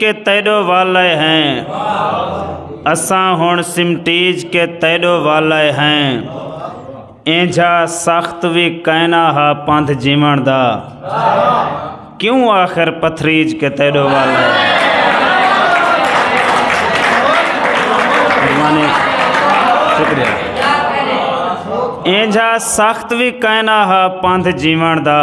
کے تیڈو والے ہیں اساں ہن سمٹیج کے تیڈو والے ہیں اینجھا سخت وی کائنا ہا پندھ جیون دا کیوں آخر پتھریج کے تیڈو والے ہیں اینجھا سخت وی کائنا ہا پندھ جیون دا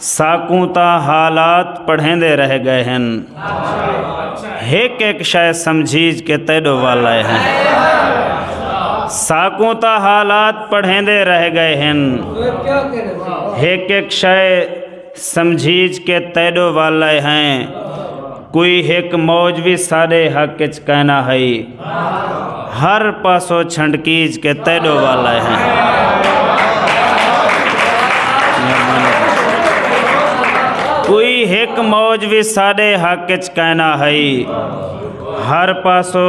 ساکوں تاں حالات پڑھیندے رہ گئے ہیں ہک ایک شے سمجھیج کے تیڈو وال آئے ہیں ساکوں تاں حالات پڑھیندے رہ گئے ہیں ہک ایک شے سمجھیج کے تیڈو وال آئے ہیں کوئی ہک موج وی ساڈے حق اچ کینا ہئی ہر پاسو چھنڈکیج کے تیڈو والا ہیں کوئی ہک موج وی ساڈے حق اچ کینا ہئی ہر پاسو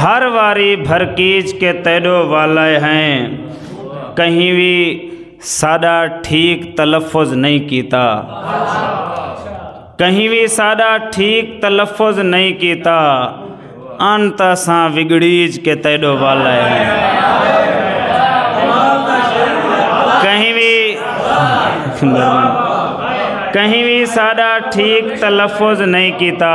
ہر واری بھرکیج کے تیڈو والے ہیں کہیں وی ساڈا ٹھیک تلفظ نہیں کیتا کہیں وی ساڈا ٹھیک تلفظ نہیں کیتا ان تا ساں وگڑیج کے تیڈو والے ہیں کہیں وی کہیں وی ساڈا ٹھیک تلفظ نہیں کیتا